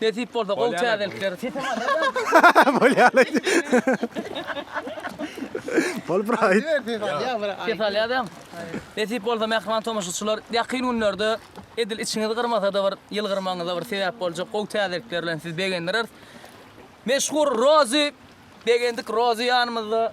Nesip bolsa gowy täzelikler. Sesiň aýdar. Bolýar aýt. Bol bir aýt. Ses alýadam. Nesip bolsa mähriban tomaşaçylar, ýakyn günlerde edil içiňizi gyrmasa-da bir ýylgyrmagyňyza bir sebäp boljak gowy täzelikler bilen sizi begendireris. Meşhur Rozy, begendik Rozy ýanymyzda.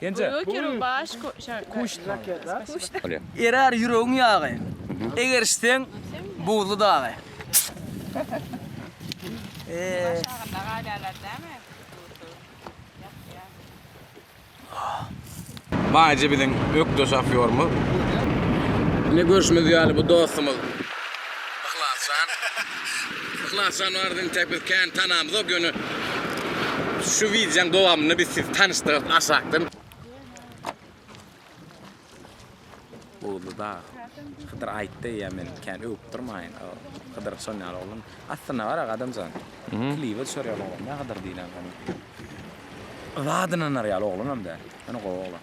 Genje. Erär ýüregiň ýagy. Egerişseň buzly dagy. Baýjy biziň ökde şofýorymyz. Ine görşümiz ýaly bu dostumyz. Yhlasjan Yhlasjan barada entek biz kän tanamzok ýöne şu wideoň dowamynda biz sizi tanyşdyrarys aşakdan. Buzly dag. Hydyr aýtdy ýa men kän öwüp durmaýyn. Hydyr şon ýaly oglan. Aslynda bar aga adamjan. Klibe düşer ýaly oglan däl Hydyr diýlen oglan. Yza dynanar ýaly oglanam däl. Ýöne gowy oglan.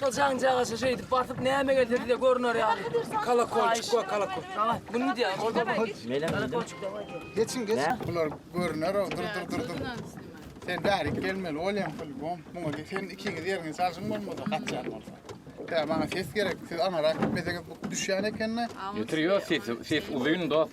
Şol jaňjagaşa şeýdip basyp näme gelse bize görüner ýaly. Kalakolçuk we kalakol. Bunu mu diýýär? Orada bu. Kalakolçuk dawaý diýýär. Geçin geç. Bular görüner o dur dur dur dur. Sen bärik gelmeli bolýaň filbom. Muňa de sen ikiňiz ýeriňi çalşyň bolmasa gaçýan bolsa. Tä maňa ses gerek. Siz anara gitmeseňiz bu düşýän ekende. Ýetir ýo ses ses uzyn dost.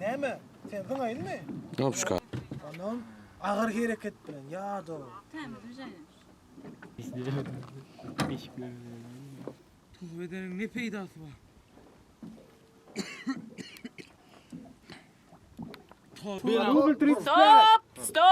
Näme? Sen zyňaýynmy? Nopşka. Onam agyr hereket bilen, ýa-da. Tämiz bijenem. Tuz bedeniň ne peýdasy bar? Stop! Stop!